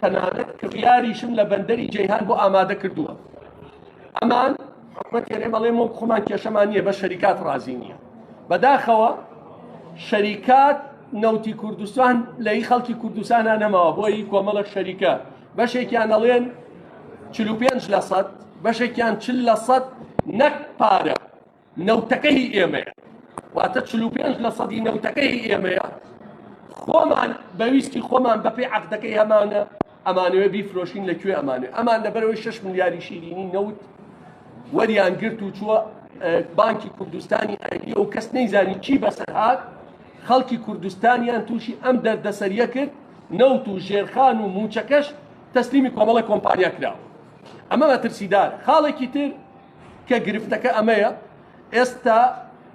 تەنانەت کڕیاریشم لە بەندەری جەیهان بۆ ئامادە کردووە ئەمان حکومەت تێرێ بەڵێ مۆ خۆمان کێشەمان نییە بە شەریکات ڕازی نییە بەداخەوە شەریکات نەوتی کوردستان لەی خەڵکی کوردستانە نەماوە بۆی کۆمەڵە شەریکە بەشێکیان ئەڵێن چ پێنج لە سەد بەشێکیان چل لە سەد نەک پارە نەوتەکە هی ئێمەیە واتە چل و پێنج لە سەدی نەوتەکە هی ئێمەیە خۆمان بەویستی خۆمان بەپێی عەقدەکەی هەمانە ئەمانەوێ بیفرۆشین لە کوێ ئەمانێ ئەمان لەبەرەوەی 6 ملیاری شیرینی نەوت وەریان گرت و چووە بانکی کوردستانی ئەریە و کەس نەیزانی چی بەسەرهات خەڵکی کوردستانیان تووشی ئەم دەردەسەریە کرد نەوت و ژێرخان و موچەکەش تەسلیمی کۆمەڵە کۆمپانیا کراوە ئەمە مەترسیدار خاڵێکی تر کە گرفتەکە ئەمەیە ئێستا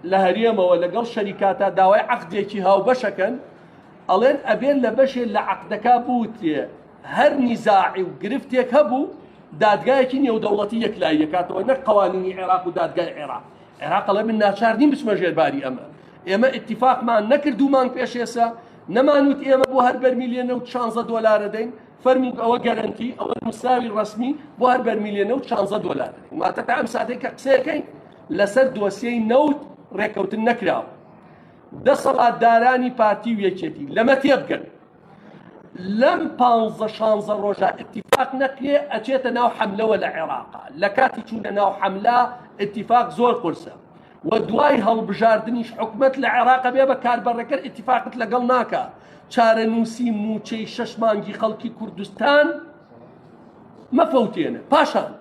لە هەرێمەوە لەگەڵ شەریکاتە داوای عەقدێکی هاوبەشەکەن ئەڵێن ئەبێن لە بەشێ لە عەقدەکە بوتێ هەر نیزاعی و گرفتێک هەبوو دادگایەکی نێودەوڵەتی یەکلاییەکاتەوە نەک قوانینی عێراق و دادگای عێراق عێراق ئەڵێ من ناچار نیم بچمە ژێرباری ئەمە ئێمە اتفاقمان نەکردومان پێشێسە نەمانوت ئێمە بۆ هەر بەرمیلێنە و چانزە دۆلارە دەین فەرموو ئەوە گەرەنتی ئەوە نووسراوی ڕسمی بۆ هەر بەرمیلێنە و چانزە دۆلار واتە تا ئەم ساتێک کە قسەکەین لەسەر دۆسیەی نەوت ڕێککەوتن نەکراوە دەسەڵاتدارانی پارتی و یەکێتی لەمە تێبگەن لەم پانزە شانزە ڕۆژە اتفاق نەکرێ ئەچێتە ناو حملەوە لە عێراقا لە کاتی چوونە ناو حملە اتفاق زۆر قرسە و دوای هەڵبژاردنیش حکومەت لە عێراق بێ بە کاربەڕێکەر ئیتیفاقت لەگەڵ ناکا چارەنووسی مووچەی شەش مانگی خەڵکی کوردستان مەفەوتێنە پاشان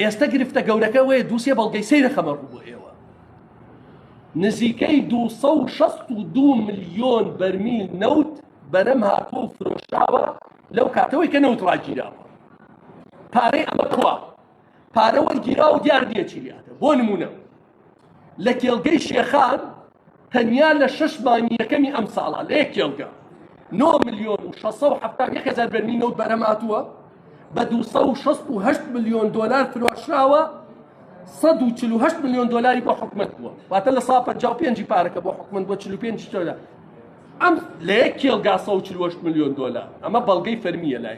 ئێستا گرفتە گەورەکە وەیە دووسێ بەڵگەی سەیرە خەمە ڕوو بۆ ئێوە نزیکەی 262 ملیۆن بەرمیل نەوت بەرەم هاتووە و فرۆشراوە لەو کاتەوەی کە نەوت ڕاگیراوە پارەی ئەمە کووە پارە وەرگیرا و دیار نییە چی لێهاتە بۆ نمونە لە کێڵگەی شێخان تەنیا لە شش مانگی یەکەمی ئەم ساڵە لە یەک کێڵگە 9 ملیۆن و 670 بەرمی نەوت بەرەماتووە بە 268 ملیۆن دلار فرۆشراوە 148 ملیۆن دلاری بۆ حکومت بووە واتە لە سا 55 پارەکە بۆ حکومت بۆ 45 دلار ئەم لە یەک کێڵگا 148 ملیۆن دلار ئەمە بەڵگەی فەرمیە لای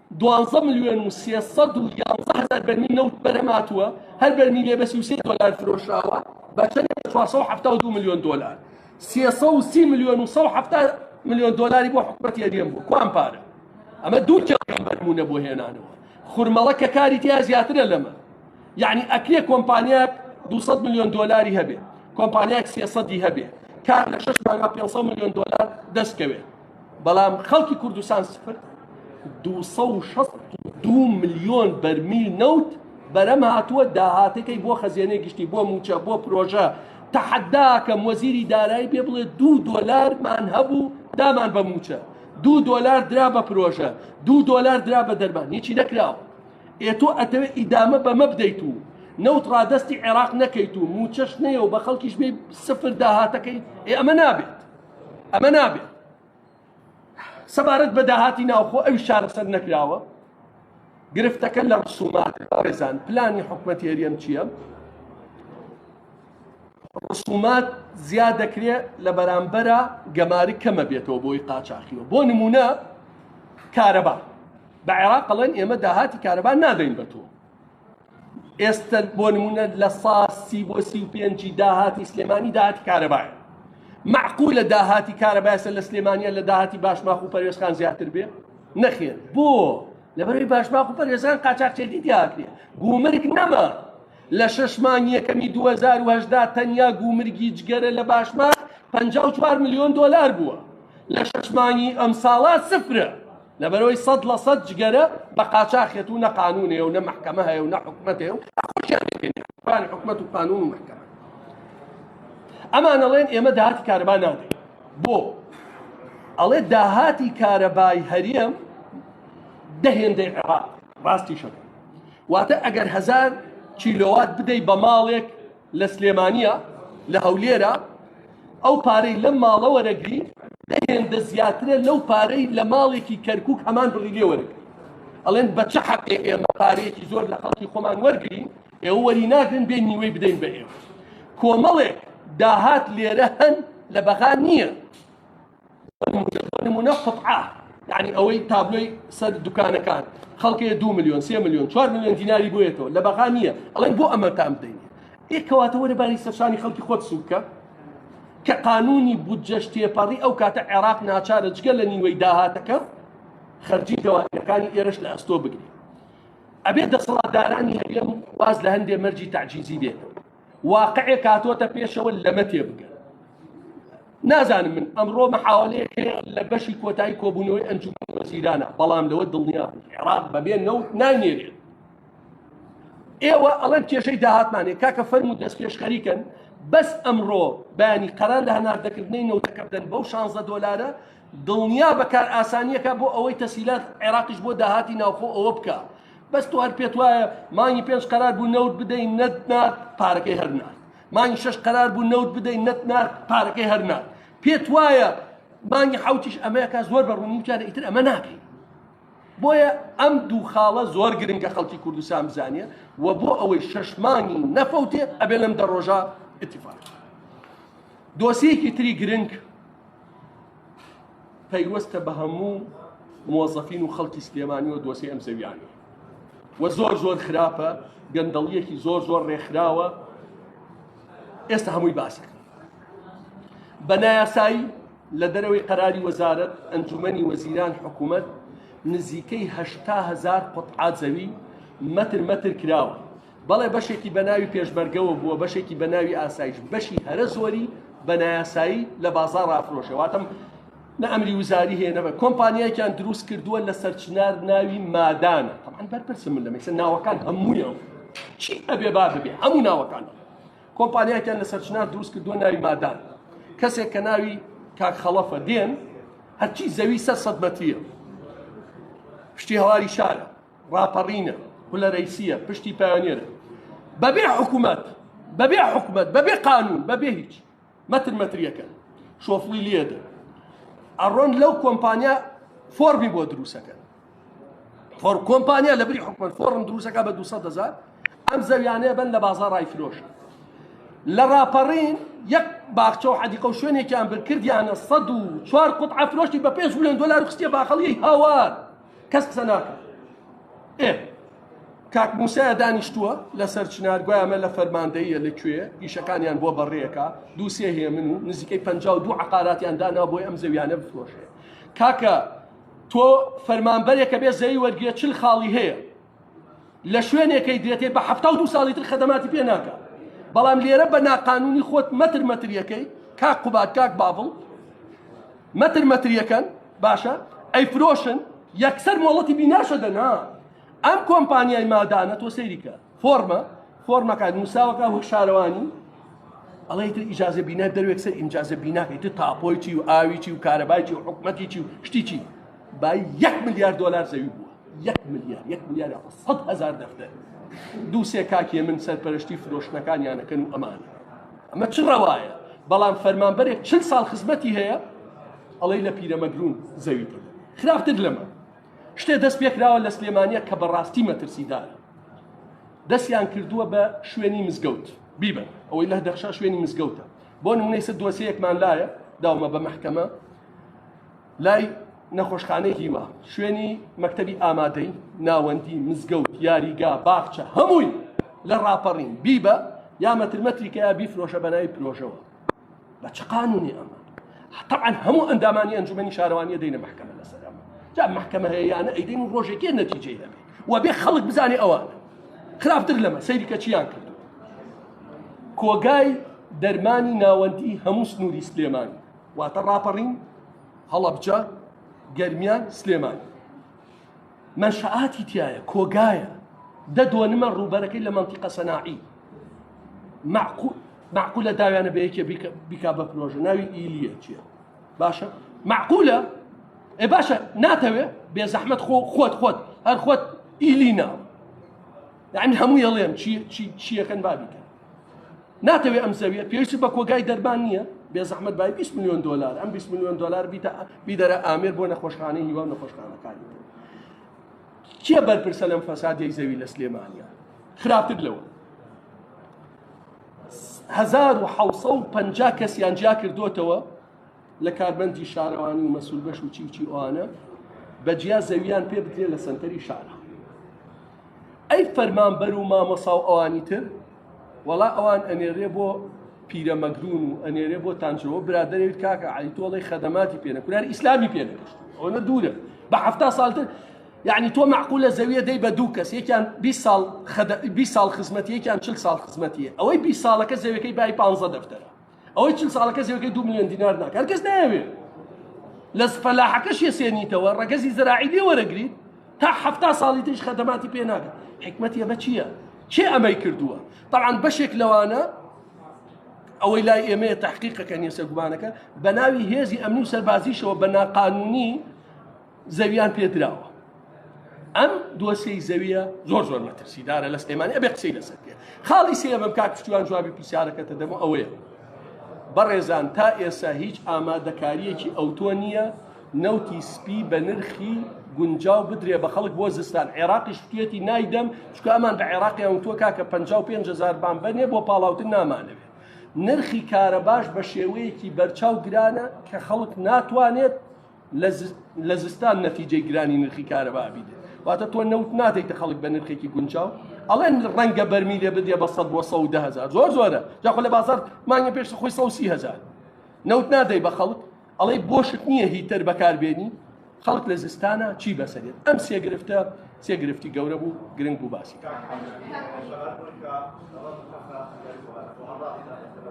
دوازدە ملیۆن و سێ سەد و یازدە هەزار بەرمیل نەوت بەرهەم هاتووە، هەر بەرمیلێ بە سی و سێ دۆلار فرۆشراوە بە چەندێک بە چوار سەد و حەفتا و دوو ملیۆن دۆلار، سێ سەد و سی ملیۆن و سەد و حەفتا ملیۆن دۆلاری بۆ حکومەتی هەرێم بووە، کوان پارە؟ ئەمە دوو کێڵگەی بەرموونە بۆ هێنانەوە خورمەڵە کە کاری تیا زیاترە لەمە، یەعنی ئەکرێ کۆمپانیاک دوو سەد ملیۆن دۆلاری هەبێ، کۆمپانیاک سێ سەدی هەبێ، کار لە شەش مانگا پێنج سەد ملیۆن دۆلار دەست کەوێ، بەڵام خەڵکی کوردستان سفر دو ملیۆن بەرمیل نەوت بەرەم هاتووە داهاتەکەی بۆ خەزیێنێ گشتی بۆ موچە بۆ پرۆژە تەحەداکەم وەزیری دارایی پێ بڵێ دوو دۆلارمان هەبوو دامان بە موچە دوو دۆلار درا بە پرۆژە دوو دۆلار درا بە دەرمان هیچی نەکراوە ئێ تۆ ئەتەوێ ئیدامە بەمە بدەیت و نەوت ڕادستی عێراق نەکەیت و موچەش نەیە و بە خەڵکیش بێ سفر داهاتەکەی ئێ ئەمە نابێت ئەمە نابێت سەبارەت بە داهاتی ناوخۆ ئەوی چارەسەر نەکراوە گرفتەکە لە ڕسومات ڕێزان پلانی حکوومەت هێریەم چییە؟ ڕسومات زیاد دەکرێت لە بەرامبەرە گەماری کەمە بێتەوە بۆی قاچاخیەوە بۆ نمونە کارەبا بە عێراق قەڵێن ئێمە داهاتی کارەبا نادەین بە تۆ ئێستە بۆ نمونە لە سا سی بۆ سی و پێنجی داهاتی سلێمانی داهاتی کارەبایە معقولە داهاتی کارەبایسە لە سلێمانە لە داهاتی باشماخ و پەروێزخان زیاتر بێ نەخێت بۆ لەبەروی باشماخ و پەروێزان قاچاقچێتی دیاکرێ گومرگ نەما لە شش مانگ یەکەمی 2010 تەنیا گومرگی جگەرە لە باشماخ 54 ملیۆن دۆلار بووە لە شش مانگی ئەم ساڵا سفرە لەبەرەوەی سەد لە سەد جگەرە بە قاچاخێت و نە قانونێ و نە محکەمە هەیە و نە حکومەتێ و خۆشیان حکومەت و قانون و محکەمە ئەمانەڵێن ئێمە داهاتی کارەبا نادەین بۆ ئەڵێ داهاتی کارەبای هەریم دەهێندەی عێراق ڕاستی شەکە واتە ئەگەر هزار کیلۆوات بدەی بە ماڵێک لە سلێمانیە لە هەولێرە ئەو پارەی لەم ماڵە وەرەگری دەهێندە زیاترە لەو پارەی لە ماڵێکی کەرکک هەمان بڕی لێ وەرەگری ئەڵێن بە چ حەقێ ئێمە پارەیەکی زۆر لە خەڵکی خۆمان وەرگین ئێوە وەری ناگرن بێ نیوەی بدەین بە ئێوە کۆمەڵێک داهات لێرە هەن لە بەغا نییە نمونە قطعە یعنی ئەوەی تابلۆی سەر دوکانەکان خەڵکێ دو میلیۆن سێ میلیۆن چوار میلیۆن دیناری بۆیەتەوە لە بەغا نییە ئەڵێن بۆ ئەمە تام بدەین ئێکەواتە وەرە باری سەرشانی خەڵکی خۆت سوکە کە قانونی بودجەش تێپەڕی ئەو کاتە عێراق ناچارە جگە لە نیوەی داهاتەکە خەرجی دەوانەکانی ئێرش لە ئەستۆ بگری ئەبێ دەسەڵاتدارانی هەرێم واز لە هەندێ مەرجی تعجیزی بێتەوە واقعێک هاتۆتە پێشەوە لەمە تێبگە نازانم من ئەمڕۆ محاولەیەک لە بەشی کۆتایی کۆبوونەوەی ئەنجومی وەزیرانە بەڵام لەوە دڵنیا عێراق بەبێ نەوت نانێرێت ئێوە ئەڵەن کێشەی داهاتمانێ کاکە فەرمو دەست پێشخەریکەن بەس ئەمڕۆ بەیانی قەرار لە هەناردەکردنی نەوتەکە بدەن بەو 16 دلارە دڵنیا بەکار ئاسانیەکە بۆ ئەوەی تەسیلات عێراقیش بۆ داهاتی ناوخۆ ئەوە بکە بەس تۆ هەر پێت وایە مانگی پێنج قەرار بوو نەوت بدەین نەت نار پارەکەی هەر نار مانگی شەش قەرار بوو نەوت بدەین نەت نار پارەکەی هەر نار پێت وایە مانگی حوتیش ئەمەیەکە زۆر بە ڕوونیوتیانە ئیتر ئەمە ناکەین بۆیە ئەم دوو خاڵە زۆر گرنگە خەڵکی کوردستان بزانە و بۆ ئەوەی شەش مانگی نەفەوتێ ئەبێ لەم دە ڕۆژە اتفاق دۆسیەکی تری گرنگ پەیوەستە بە هەموو مۆزەفین و خەڵکی سلێمانی و دۆسی ئەم زەویانە و زۆر زۆر خراپە گەندەڵیەکی زۆر زۆر ڕێکخراوە ئێستا هەمووی باسەکە بە نایاسایی لە دەرەوەی قەراری وەزارت ئەنجومەنی وەزیران حکوومەت نزیکەی هزار قوتعات زەوی مەتر مەتر کراوە بەڵێ بەشێکی بە ناوی پێشمەرگەوە بووە بەشێکی بە ناوی ئاسایش بەشی هەرە زۆری بە نایاسایی لە بازار ڕافرۆشە واتم نە ئەمری وزاری هەیە نەبە کۆمپانیایکیان دروست کردووە لە سەرچنار ناوی مادانە تەمان بەرپرسم من لەمەسە ناوەکان هەموویان چی ئەبێ با ببێ هەموو ناوەکان کۆمپانیایکیان لە سەرچنار دروست کردووە ناوی مادان کەسێک کە ناوی کاک خەڵەفە دێن هەرچی زەوی سەر سەد مەتریە شتی هەواری شارە ڕاپەڕینە پلە رەیسیە پشتی پایۆنێرە بەبێ حکوومەت بەبێ حکوومەت بەبێ قانون بەبێ هیچ مەتر مەتریەکە شۆفڵی لێدە ئەڕۆن لەو کۆمپانیا فۆرمی بۆ دروستەکە فۆر کۆمپانیا لە بری حکومت فۆرم دروستەکە بە 200 دەزار ئەم زەویانەیە بن لە بازاڕای فرۆش لە ڕاپەڕین یەک باخچە و حەدیقە و شوێنێکیان برکردیانە 100 و چوار قوت ئەفرۆشتی بە 5 میلیۆن دلار خستیە باخەڵی هاوار کەس قسە ناکە ئێ کاک موسایە دانیشتووە لەسەر چنار گویا ئەمە لە فەرماندەیە لە کوێ ئیشەکانیان بۆ بەڕێەکە دووسێ هەیە من و نزیکەی پ دوو عقاراتیان دانا بۆی ئەم زەویانە بفرۆشێ کاکە تۆ فەرمانبەرێکە بێ زەوی وەرگێ چل خاڵی هەیە لە شوێنێکەی دێتێ بە حەفتا و دوو ساڵی تر خەدەماتی پێ ناکە بەڵام لێرە بە ناقانونی خۆت مەتر مەتریەکەی کاک قوبات کاک باڤڵ مەتر مەتریەکەن باشە ئەی فرۆشن یەکسەر مۆڵەتی بیناشە دەنا ئەم کۆمپانیای مادانە تۆ سەیریکە فۆرمە فۆرمەکان نووساوەکە وەک شارەوانی ئەڵێ تر ئیجازە بینا دەروێک سەر ئیمجازە بیناکەی تر تاپۆیی و ئاویی و کارەبایکی و حکومەتیی و شتیی با یەک ملیار دلار زەوی بووە یەک ملیار یەک ملیار سەد هزار دەفتەر دوو سێ کاکێ من سەرپەرشتی فرۆشتنەکان یانەکەن و ئەمانە ئەمە چ ڕەوایە بەڵام فەرمانبەرێک چل ساڵ خزمەتی هەیە ئەڵەی لە پیرەمەگرون زەوی خراپتر لەمە شتێ دەست پێکراوە لە سلێمانە کە بەڕاستی مەترسیدارە دەستیان کردووە بە شوێنی مزگەوت بیبن ئەوەی لە دەخشا شوێنی مزگەوتە بۆ نمونەیسە دۆسەیەکمان لایە داومە بە محکەمە لای نەخۆشخانەی هیوا شوێنی مەکتەبی ئامادەی ناوەندی مزگەوت یاریگا باخچە هەمووی لە ڕاپەڕین بیبە یا مەترمەتریکە یا بیفرۆشە بەناوی پرۆژەوە بە چ قانونی ئەمە طبعا هەموو ئەندامانی ئەنجومەنی شارەوانیە دەینە محکمە لەسەر ئەمە جا محکمە هەیەیانە ئەیدین و ڕۆژێکی نەتیجەی دەبێت و بێ خەڵک بزانێ ئەوانە خراپتر لەمە سەیریکە چیان کرد کۆگای دەرمانی ناوەندی هەموو سنووری سلێمان واتە ڕاپەڕین هەڵەبجە گەرمیان سلێمان مەنشەئاتی تیایە کۆگایە دە دۆنمە ڕووبەرەکەی لە مەنتیقە سەناعی معقولە داویانە بە یەکێ بیکا بە پرۆژە ناوی ئیلیە چیە باشە معقولە ئێ باشە ناتەوێ بێ زەحمت خۆ خۆت خۆت هەر خۆت ئیلی ناوە یعنی هەموو یەڵێم چیەکەن بابیکە ناتەوێ ئەم زەویە پێویست بە کۆگای دەرمان نییە بێ زەحمت بای 20 میلیۆن دلار ئەم 20 میلیۆن دلار بیتە بیدەرە ئامێر بۆ نەخۆشخانەی هیوا نەخۆشخانەکانی کێ بەرپرسە لەم فەسادی زەوی لە سلێمانە خراپتر لەوە 1950 کەسیان جیا کردوتەوە لە کاربەندی شارەوانی و مەسول بەش و چیوچی ئەوانە بە جیا زەویان پێ بدرێ لە سنتەری شارە ئەی فەرمان بەر و مامۆسا و ئەوانی تر وەڵا ئەوان ئەنێرێ بۆ پیرە مەگرون و ئەنێرێ بۆ تانجەوە برادێت کاکە علی تۆڵی خەدەماتی پێنە کورار ئیسلامی پێنەکەشت ئەوە دوورە بە هەفتا ساڵتر یعنی تۆ معقولە زەویە دەی بە دوو کەس یەکیان 20 ساڵ 20 ساڵ خزمەتی یەکیان 40 ساڵ خزمەتیە ئەوەی 20 ساڵەکە زەوەکەی بای 15 دەفتەر ئەوەی چل ساڵە کەس یەکەی دو ملیۆن دینار ناکە هەر کەس نایەوێ لە فەلاحەکەش یەسێنیتەوە ڕەگەزی زراعی لێ وەرەگریت تا حەفتا ساڵی تریش خەدەماتی پێ ناکە حکمت یە بە چییە چێ ئەمەی کردووە طبعا بەشێک لەوانە ئەوەی لای ئێمەیە تحقیقەکە نیە سەرگومانەکە بە ناوی هێزی ئەمنی و سەربازیشەوە بە ناقانونی زەویان پێ دراوە ئەم دۆسیەی زەویە زۆر زۆر مەترسیدارە لە سلێمانی ئەبێ قسەی لەسەر پێ خاڵی سێمم کاک پشتیوان جوابی پرسیارەکەتە دەمە ئەوەیە بەڕێزان تا ئێستا هیچ ئامادەکاریەکی ئەوتۆ نییە نەوتی سپی بە نرخی گونجاو بدرێ بە خەڵک بۆ زستان عێراقی شتێتی نایدەم چکە ئەمان بە عێراقی ئەوتۆ کاکە 55000 بان بەنێ بۆ پاڵاوتن نامانەوێت نرخی کارە باش بە شێوەیەکی بەرچاو گرانە کە خەڵک ناتوانێت لە زستان نەتیجەی گرانی نرخی کارەبا ئەبیت واتە تۆ نەوت نادەیتە خەڵک بە نرخێکی گونجاو ئەڵێن ڕەنگە بەرمی لێ بدێ بە سەد بۆ سە ده هزار زۆر زۆرە جاخۆ لە بازار مانگە پێش خۆی سە سی هزار نەوت نادەی بە خەڵک ئەڵەی بۆشت نییە هیتەر بەکاربێنی خەڵک لە زستانە چی بەسەرێت ئەم سێ گرفتە سێ گرفتی گەورە بوو گرنگ بوو باسی.